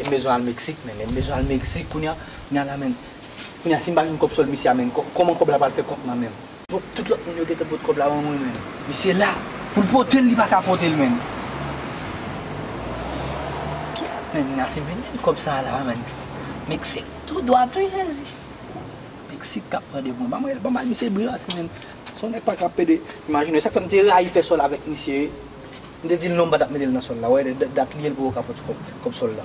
M bezwen al Mexique menn M bezwen al Mexique kounye a Kounye a la menn Kounye a si m pa jwenn kòb sòl misye a menn Kòman kòb la pral fè kont mwen menn Fòk tout lòt moun yo gentan pot kòb la ban mwen menn Misye la Pou l pote l li pa ka pote l menn Gyèt menn Kounye a si m vin jwenn kòb sa a la menn Mexique tou dwat wi Jezi Mexique k ap mande pou mwen Ban mwen l ban m al misye bri rase menn Son nèg pa ka pede Imajine w e sa k fè m te rayi fè sòl avèk misye M te di l non m pa t ap mete l nan sòl la. Wè dat li ye l poko ka pòt kòb sòl la.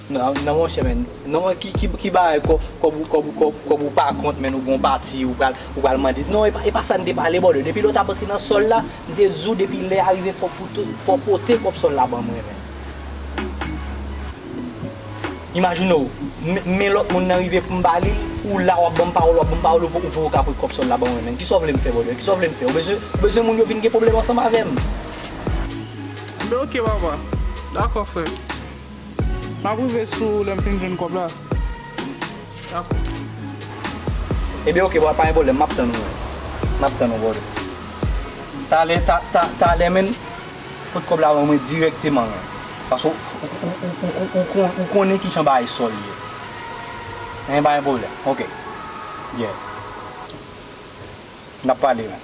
Non monchè men, non men ki bagay kòb ou pa kont men ou gon pati ou pral mande. Non e pa sa n te pale bòdò, depi lè w t ap antre nan sòl la, m te di w depi lè a rive fò w pote kòb sòl la ban mwen men. Imajine w, men lòt moun nan rive pou m ba li l, ou la w ap ban m pawòl, w ap ban m pawòl ou poko ka pote kòb sòl la ban mwen menm. Kisa w vle m fè bòdò, kisa w vle m fè? Ou bezwen moun yo vin gen pwoblèm ansanm avè m? M fè ok papa, dakò frè m. Map rive sou ou lèm fin jwenn kòb la Dakou. Ebyen ok bro pagen pwoblèm map tann ou map tann ou brother talè talè menn pot kòb la ban mwen dirèkteman paske ou konnen kijan bagay sòl ye men pagen pwoblèm ok yeah nap pale menn.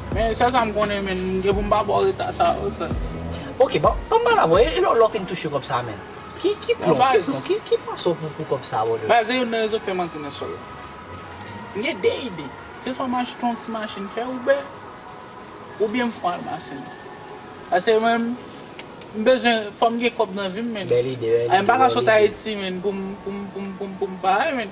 Men sèl sa m konnen menn m gen pou m pa ba w reta sa wi frè. Ok ban m ba l avwe e lè w fin touche kòb sa menn ki plan w ki plan w ki plan sa w pou pou kòb sa brother. Baz se youn nan rezon k fè m antre nan sòl la. M gen 2 ide se swa m achte yon ti machin fè Uber oubyen m fon almasen. Pase mwen m bezwen fò m gen kòb nan vi m menn. Bèl ide bèl ide. M pa ka sot Ayiti menn pou m pou m pou m pou m pa menn.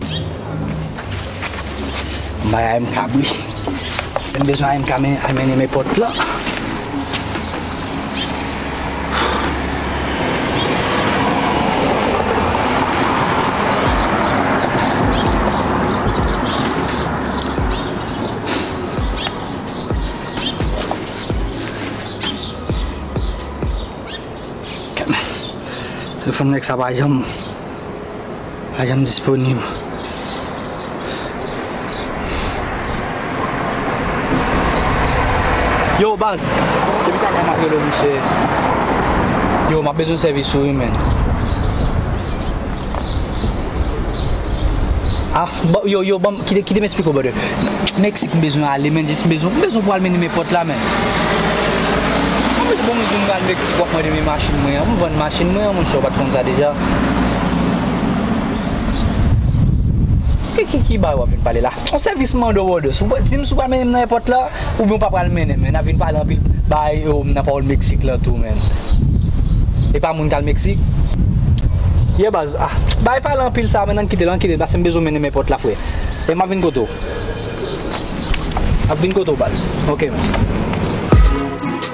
M bay a MK bri. Si m bezwen a MK men al mennen men pòt lan. Telefòn nèg sa pa janm. pa janm disponib. Yo baz, depi ta ka map rele w misye. Yo map bezwen sèvis ou wi menn. Ah, bon, yo, yo, bon, kite, kite m esplike w brother. Meksik m bezwen ale menn, jis m bezwen, m bezwen pou al mennen men pòt la menn. Bon m bezwen pou al Meksik. Ti kòb mwen te men machin mwen an. M vann machin mwen an monchè ou pat konn sa deja. Ki bagay wap vin pale la. On sèvis mande w òdès. Ou di m si w pral mennen m nan èpòt la oubyen ou pa pral mennen m. Nap vin pale anpil bagay yo nan pawòl Meksik lan tou menn. E pa moun kal Meksik. Ye baz. Ah bagay pale anpil sa menn ann kite l ann kite l pase m bezwen w mennen m èpòt la frè. E map vin kote w. Map vin kote w baz. Ok menn.